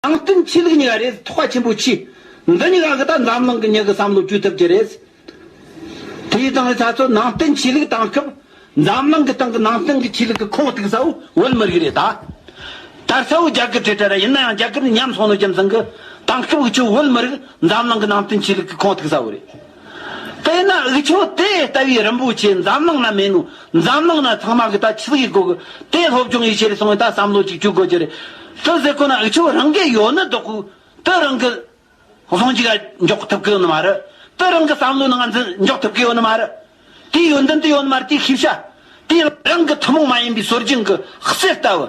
ནང་བསྟན་ཆོས་ལུགས་གཉིས་ཀ་རེད་ཐོག་ཁ་ཆེན་པོ་མཆིས། འདི་གཉིས་ཀ་གི་ད་འཛམ་གླིང་གི་མྱི་གི་བསམ་བློ་བཅོས་ཐུབ་ཀྱི་རེད། དེ་ཡི་སྟེང་ལ་ད་གཟོད་ནང་བསྟན་ཆོས་ལུགས་གཏང་སྐབས་འཛམ་གླིང་གི་སྟེང་གི་ནང་བསྟན་གི་ཆོས་ལུགས་གི་ཁོངས་གཏུགས་ས་བོ་བོད་མི་རིགས་རེད་ད། ད་ས་བོ་རྒྱ་གར་བྲེལ་བྲེལ་ར་ཡིན་ན་ཡང་རྒྱ་གར་ནི་ཉམས་སོང་ནོ་རྒྱུ་མཚན་གི་གཏང་སྐབས་གི་ཁྱོད་བོད་མི་རིགས་འཛམ་གླིང་གི་ནང་བསྟན་ཆོས་ལུགས་གི་ཁོངས་གཏུགས་ས་བོ་རེད། དེས་ན་འུ་ཆོས་དེ་ལྟ་བུའི་རིན་པོ་ཆེ་འཛམ་གླིང་ན་མེད་ནོ། འཛམ་གླིང་ན་ཚང་མ་གི་ད་ཆི་གི་གོ་གི། དེ་སློབ་སྦྱོང་ཡི་ཆེར་སོང་བའི་ད་བསམ་བློ་ཅིག་བཅུག་དགོས་ཀྱི་རེད། དེ་ཟེར་ཁོ་ན་འུ་ཆོས་རང་གི་ཡོད་ནི་འདོག་གི། དེ་རང་གི། གཟུང་འཇུག་ཡ་འཇོག་ཐུབ་གི་ཡོད་ནི་མ་རེད། དེ་རང་གི་བསམ་བློ་ནི་ང་ཚོས་འཇོག་ཐུབ་གི་ཡོད་ནི་མ་རེད། དེའི་ཡོན་ཏན་དེ་ཡོད་ནི་མ་རེད་དེ་ཤེས་བྱ། དེ་རང་གི་ཐུན་མོང་མ་ཡིན་པའི་སྲོལ་རྒྱུན་གི་གསེར་ལྟ་བུ།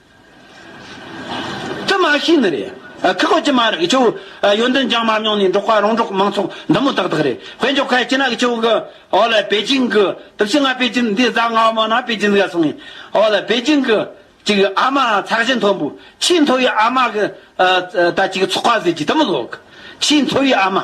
དུ་མ་ཤེས་ནི་རེད། ཁག་བོད་ཀྱི་མ་རིག་ཆུ་བོ། ཡོན་ཏན་ལྗང་མ་རྙོག་ནས་འབྲོག་པ་རོང་འབྲོག་མང་ཚོགས་འདི་མོ་ཏག་ཏག་རེད། བོད་མཆོག་ཁ་ཆེ་ནག་ཆུ་བོ་གི། ཨོ་ལེ་པེ་ཅིང་གི། དུ་བྱིད་ང་པེ་ཅིང་འདི་བཟའ་ང་བ་མོ་ན་པེ་ཅིང་ག་སོང་ངས། ཨོ་ལེ་པེ་ཅིང་གི། ཅིག་ཨ་མ་ཚགས་ཆེན་མཐོན་པོ། ཆེས་མཐོ་བའི་ཨ་མ་གི། ད་ཅིག་ཚོགས་པ་ཟེར་གྱི་དུ་མི་ལོག། ཆེས་མཐོ་བའི་ཨ་མ།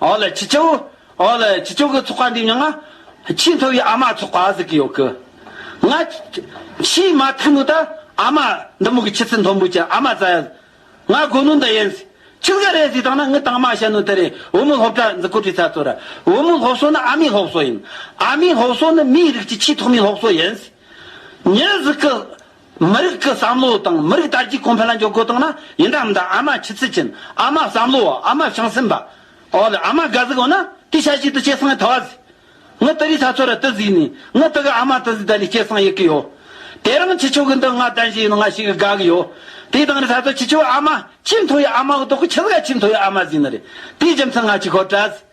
ཨོ་ལེ་ཁྱི་སྤྱོད། ཨོ་ལེ་ཁྱི་སྤྱོད་ཀྱི་ཚོགས་པ་འདི་མྱངས། ཁྱིའི་མཐོ་བའི་ཨ་མ་ཚོགས་པ་ཟིག་གི་ཡོད་གི། ང། ཁྱིའི་མ་ཐུག་ནུ་ད། ཨ་མ། འདི་མོ་གི་ཁྱི་ཚི་མཐོན་པོ་ཅི་ཨ་མ་ཙ་ཡ། ང་དགོས་ནུ་འདི་ཡིན། ཁྱི་ཟ་རེད་ཟིག་དང་ན་ངི་དང་མ་བྱ་ནུ་དེ་རེད་བུ་མོ་སློབ་གྲྭ་འཛི་ཀོ་བྲི་ཚ་ཚོ་ར། བུ་མོ་སློབ་གསོ་ནི་ཨ་མའི་སློབ་གསོ་ཡིན། ཨ་མའི་སློབ་གསོ་ནི་མིའི་རིགས་ཀྱི་ཆེས་ཐོག་མའི་སློབ་གསོ་ཡིན། མྱི་ཟིག་གི། མི་རིགས་ཀྱི་བསམ་བློ་དང་མི་རིགས་དར་རྒྱས་གོང་འཕེལ་ལ་འཇོག་དགོས་དང་ན་ཡིན་དང་མི་འདང་ཨ་མ་ཆུ་ཚོད་ཅན་ཨ་མ་བསམ་བློ་བ་ཨ་མ་བྱང་སེམས་པ། འོ་ལེ་ཨ་མ་དགའ་གཟིགས་འོ་ན་དེ་ཤ་ཞིག་ཏུ་སྐྱེས་སངས་ཐ་བ་ཟིག། ངི་ཏི་རི་ས་ཚོ་ར་ཏི་ཟིག་ནི་ངི་ཏི་གི་ཨ་མ་ཏི་ཟིག་ད་ལི་སྐྱེས་སངས་ཡི་གི་ཡོ། དེ་རང་ཁྱི་ཆོ་གི་འདི་ང་ལྡན་ཞིག་ཡིན་ན་ང་ཞིག་གི་དགའ་གི་ཡོ། དེ་དང་རི་ས་ཚོ་ཁྱི་ཆོ་གི་ཨ་མ་ཁྱིམ་ཐོ་ཡི་ཨ་མ་གི་ཏོག་གི་ཁྱི་ཟ་ག་ཁྱིམ་ཐོ་ཡི་ཨ་མ་ཟིག་ནི་རེད་དེའི་རྒྱུ་མཚན་ང་ཅིག་ཁོ་བྲ་ཟིག།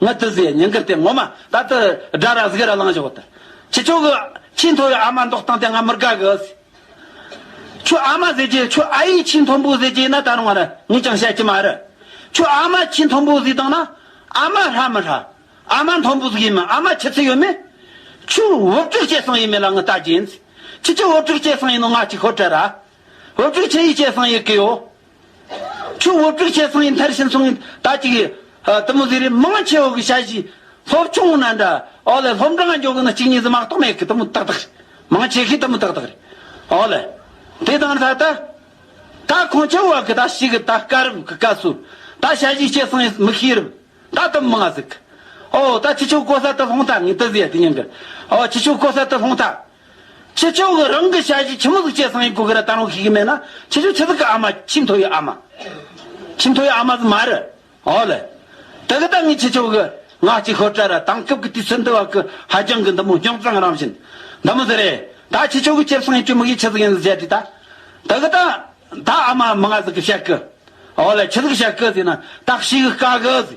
ངའི་ཏི་ཟེ་ཉིན་གུར་དེ་ངོ་མ་ད་ཏི་སྒྲ་ར་གཟིགས་ར་གླང་བཞག་ཏི། ཁྱི་ཁྱོ་གི་ཁྱི་མཐོ་བའི་ཨ་མ་མདོག་སྟངས་དེ་ང་མི་དགའ་གི། ཁྱོད་ཨ་མ་ཟེར་གྱི་ཁྱོད་ཨ་ཡིས་ཁྱི་མཐོན་པོ་ཟེར་གྱི་ན་ད་རུང་ང་ར་ངས་ཀྱང་བཤད་ཀྱི་མ་རེད། ཁྱོད་ཨ་མ་ཁྱི་མཐོན་པོ་ཟིག་དང་ན་ཨ་མ་ཧྲ་མི་ཧྲ། ཨ་མ་མཐོན་པོ་ཟིག་ཡིན་མིན་ཨ་མ་ཁྱི་ཚི་ཡོད་མེད། ཁྱོས་འུབ་ཀྱོག་བྱས་སང་ཡིན་མེད་ལ་ངའི་ལྟ་རྒྱན། ཁྱི་ཁྱོད་འུབ་ཀྱོག་བྱས་སང་ཡིན་ནོ་ང་ཅིག་ཧོར་བྲལ་ར། འོད་དཀྲུགས་ཆེ་ཡི་སྐྱེས་སངས་ཡི་གིའོ། ཆུ་འོད་དཀྲུགས་ཆེ་སངས་ཡི་མཐར་ཕྱིན་སོང། ད་ཅིག་ཡི། དུ་མུ་ཟི་རི་མང་ཆེ་འོད་གི་ཤ་བཞི། ལྷོབ་ཆུང་ངུ་ན་འདྲ། ཨོ་ལེ་ལྷོབ་འདྲ་ང་འཇོག་གི་ནི་གཅིག་གཉིས་གཟི་མ་གཏོགས་མེད་གི་དུ་མུ་ཏག་ཏག་རེད། མང་ཆེ་གི་དུ་མུ་ཏག་ཏག་རེད། ཨོ་ལེ། དེ་དང་ལྷ་ད། ད་ཁོང་ཁྱེད་འོད་གི་ད་ཤི་གི་ད་སྐ་རུབ་གི་སྐ་སུ། ད་ཤ་བཞི་སྐྱེས་སངས་ཡི་མི་ཤི་རུབ། ད་དུ་མུ་ང་ཟིག་གི། ཨོ། ད་ཁྱི་ཆུ་ཀོ་ས་དུ་ལྷོང་ཐ་ངི་དུ་ཟི་ཡ་དི་ཉང་གི། ཨོ་ཁྱི་ཆུ་ཀོ་ས་དུ་ལྷོང་ཐ། ཕྱི་ཕྱོགས་ཀྱི་རང་གི་ཞལ་གྱི་ཁྱི་མོ་གཟུགས་ཅན་བཟང་ཡིན་གོ་གི་ར་བཏང་རོགས་ཞུས་ཀྱི་མེད་ན་ཕྱི་ཕྱོགས་ཆི་ཟིག་གི་ཨ་མ་ཆི་མཐོ་ཡི་ཨ་མ། ཆི་མཐོ་ཡི་ཨ་མ་ཟི་མ་རི། ཨོ་ལེ། དེ་གི་ད་ངས་ཕྱི་ཕྱོགས་ཀྱི་ང་གཅིག་ཤོར་གྲ་ར་དང་སྐབས་ཀྱི་དུས་ཚོད་འདི་བར་གྱི་ཧ་རྒྱང་གི་འདི་མོ་རྙོག་འཛང་རང་བཞིན། འདི་མོ་ཟི་རེད་ད་ཕྱི་ཕྱོགས་ཀྱི་ཁྱི་བཟང་ཡིན་གྱི་མི་གིས་ཆི་ཟིག་ཡིན་ཟི་བྱས་དུས་ད། དེ་གི་ད། ད་ཨ་མ་མི་ང་ཟི་གི་བྱས་གི། ཨོ་ལེ་ཆི་ཟི་གི་བྱས་གི་ཟི་ན་ད་ཤི་གི་དཀའ་གི་ཟི།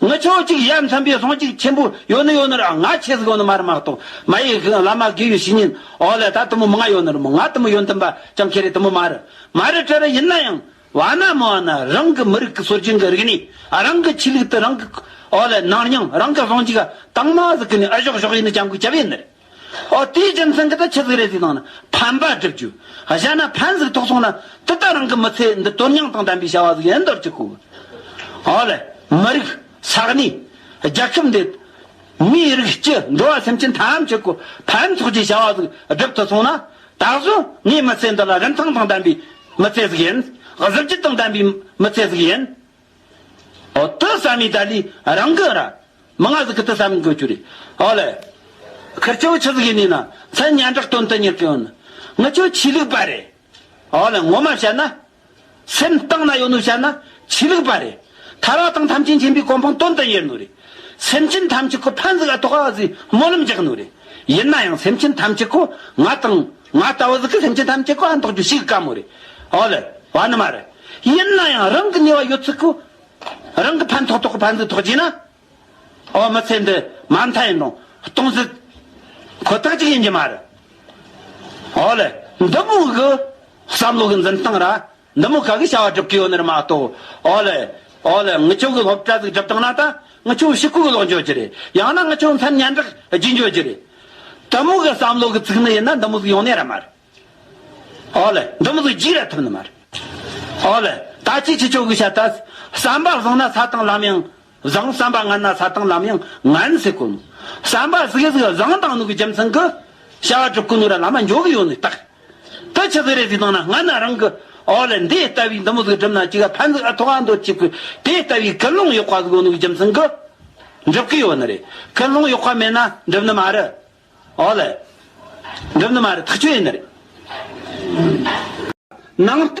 ངི་ཆོས་གཅིག་ཡ་མཚན་པའི་ལྷང་ཅིག་ཆེན་པོ་ཡོད་ནི་ཡོད་ནི་ར་ང་ཆེ་ཟིག་ཡོད་ནི་མ་རི་མ་གཏོགས་མ་ཡི་གི་བླ་མ་དགེ་བའི་བཤེས་གཉེན་འོག་ལ་ད་དུ་མོ་མི་ང་ཡོད་ནི་རི་མོ་ང་དུ་མོ་ཡོད་འདི་འབའ་ཅང་ཁེ་རེ་དུ་མོ་མ་རི་མ་རི་ཀྲི་རི་ཡིན་ན་ཡང་བ་ན་མི་བ་ན་རང་གི་མི་རིགས་ཀི་སོ་རྒྱིང་གི་རིག་ནི་རང་གི་ཆི་ལིག་དུ་རང་གི་འོག་ལ་ནང་སྙིང་རང་གི་ལྷང་ཅིག་ག་དང་མ་ཟིག་གི་ནི་ཨི་ཞོག་ཞོག་ཡིན་ནི་ཅང་གུ་ཅི་བས་ནི་རེད། ཨོ་དེའི་རྒྱུ་མཚན་གྱིས་ད་ཁྱི་གཟིགས་རེ་གཟིགས་དང་ནི་ཕན་པ་བསྒྲུབ་རྒྱུ། གཞན་ན་ཕན་གཟིགས་ཐོགས་སོང་ན་དེ་ལྟར་རང་གི་མི་ཚེ་འདི་དོན་སྙིང་དང་ལྡན་པའི་བྱ་བ་གཟིགས་ཡིན་འདོར་གྱི་ཁུ་བོ། ཨོ་ལེ། མི་རིགས། ས་གནས། རྒྱལ་ཁབ་འདི། མིའི་རིགས་སྤྱི་འགྲོ་བ་སེམས་ཅན་ཐམས་ཅད་ཀྱི་ཕན་ཐོགས་ཀྱི་བྱ་བ་གཟིགས་བསྒྲུབ་ཐུབ་སོང་ན། ད་གཟོད་ངའི་མི་ཚེ་འདི་ལ་རིན་ཐང་དང་ལྡན་པའི་མི་ཚེ་གཟིགས་ཡིན། གཟི་བརྗིད་དང་ལྡན་པའི་མི་ཚེ་གཟིགས་ཡིན། ཨོ་ཏི་ས་མི་ཏཱ་ལི་རང་གི་ར་མི་ང་ཟི་ཀི་ཏི་ས་མི་གོ་ཆུ་རི་ཨོ་ལེ། ཁིར་ཅོ་ཆི་ཟི་ཀི་ནི་ན་ཚན་ཉན་གྲགས་དོན་དུ་གཉེར་གི་ཨོ་ནི་ངི་ཅོ་ཆི་ལིག་པ་རེ་ཨོ་ལེ་ངོ་མ་བཤད་ན། སེམས་གཏིང་ན་ཡོད་ནུ་བཤད་ན་ཆི་ལིག་པ་རེ་ཐ་ར་དང་ཐམས་ཅད་མཁྱེན་པའི་གོ་འཕང་དོན་དུ་གཉེར་ནུ་རེ་སེམས་ཅན་ཐམས་ཅད་ཀུ་ཕན་ཟི་ཀ་ཐོག་ཨ་ཟི་སྨོན་ལམ་རྒྱག་ནུ་རེ་ཡིན་ན་ཡང་སེམས་ཅན་ཐམས་ཅད་ཀུ་ང་དང་ང་ལྟ་བུ་ཟིག་གི་སེམས་ཅན་ཐམས་ཅད་ཀོ་ཨ་མདོག་རྒྱུ་ཞིག་གི་དཀའ་མོ་རེད་ཨོ་ལེ། བ་ནི་མ་རེད། ཡིན་ན་ཡང་རང་གི་ནུས་བ་ཡོད་ཚུལ་གོ། རང་གི་ཕན་ཐོག་ཐོག་གི་ཕན་ཚུན་ཐོག་བྱས་ན། ཨོ་མི་ཚེ་འདི་མ་མཐའ་ཡིན་རུང་སྟོང་ཟིག། ཁོ་ཐག་ཅིག་ཡིན་གྱི་མ་རེད་ཨོ་ལེ། འདི་ཕོ་གི་བསམ་བློ་གི་འཛིན་སྟངས་ར་འདི་མོ་ག་གི་བྱ་བ་སྒྲུབ་ཀི་ཡོད་ནི་རི་མ་གཏོགས། ཨོ་ལེ། ཨོ་ལེ། ངི་ཆོ་གི་སློབ་གྲྭ་ཟིག་སྒྲུབ་བཏང་ན་ད། ངི་ཆོ་ཤི་ཁུག་གི་ལོག་འཇོག་རྒྱུ་རེད། ཡང་ན་ངི་ཆོ་མཚན་སྙན་གྲགས་བརྒྱུད་འཇོག་རྒྱུ་རེད། དི་མོ་གི་བསམ་བློ་གི་ཚིག་ནི་ཡིན་ན་འདི་མོ་ཟིག་ཡོང་ནི་ར་མ་རེད། ཨོ་ལེ། འདི་མོ་ཟིག་རྒྱུགས་ར་ཐུབ་ནི་མ་རེད། ཨོ་ལེ། ད་ཅི་ཁྱི་ཆོ་གི་བྱ་ད། བསམ་པ་བཟང་ན་ས་དང་ལམ་ཡང། བཟང་བསམ་པ་ངན་ན་ས་དང་ལམ་ཡང་ངན་ཟེར་དཀོན། བསམ་པ་གཟུགས་གཟུགས་བཟང་དང་ནུག་གི་རྒྱུ་མཚན་གྱི། བྱ་བ་གྲུབ་ཀྱི་ནུག་ར་ལ་མ་འཇོག་གི་ཡོད་ནི་རྟགས། དེ་ཕྱི་ཟིག་རེ་ཟིག་དང་ན་ངན་ན་རང་གི། འོ་ལེ་འདི་ལྟ་བུའི་འདི་མོ་ཟིག་སྒྲུབ་ན་ཅིག་ཨ་ཕན་ཟིག་ཨ་ཐོག་ཨ་འདོད་ཅིག་གི། དེ་ལྟ་བུའི་ཀི་སློང་གཡོག་པ་ཟིག་ཨོ་ནུག་གི་རྒྱུ་མཚན་གྱི། འགྲུབ་ཀྱི་ཡོད་ནི་རེད། ཀི་སློང་གཡོག་པ་མེད་ན་འགྲུབ་ནི་མ་རེད། འོ་ལེ། འགྲུབ་ནི་མ་རེད་ཐག་ཆོད་ཡིན་ནི་རེད། ནང།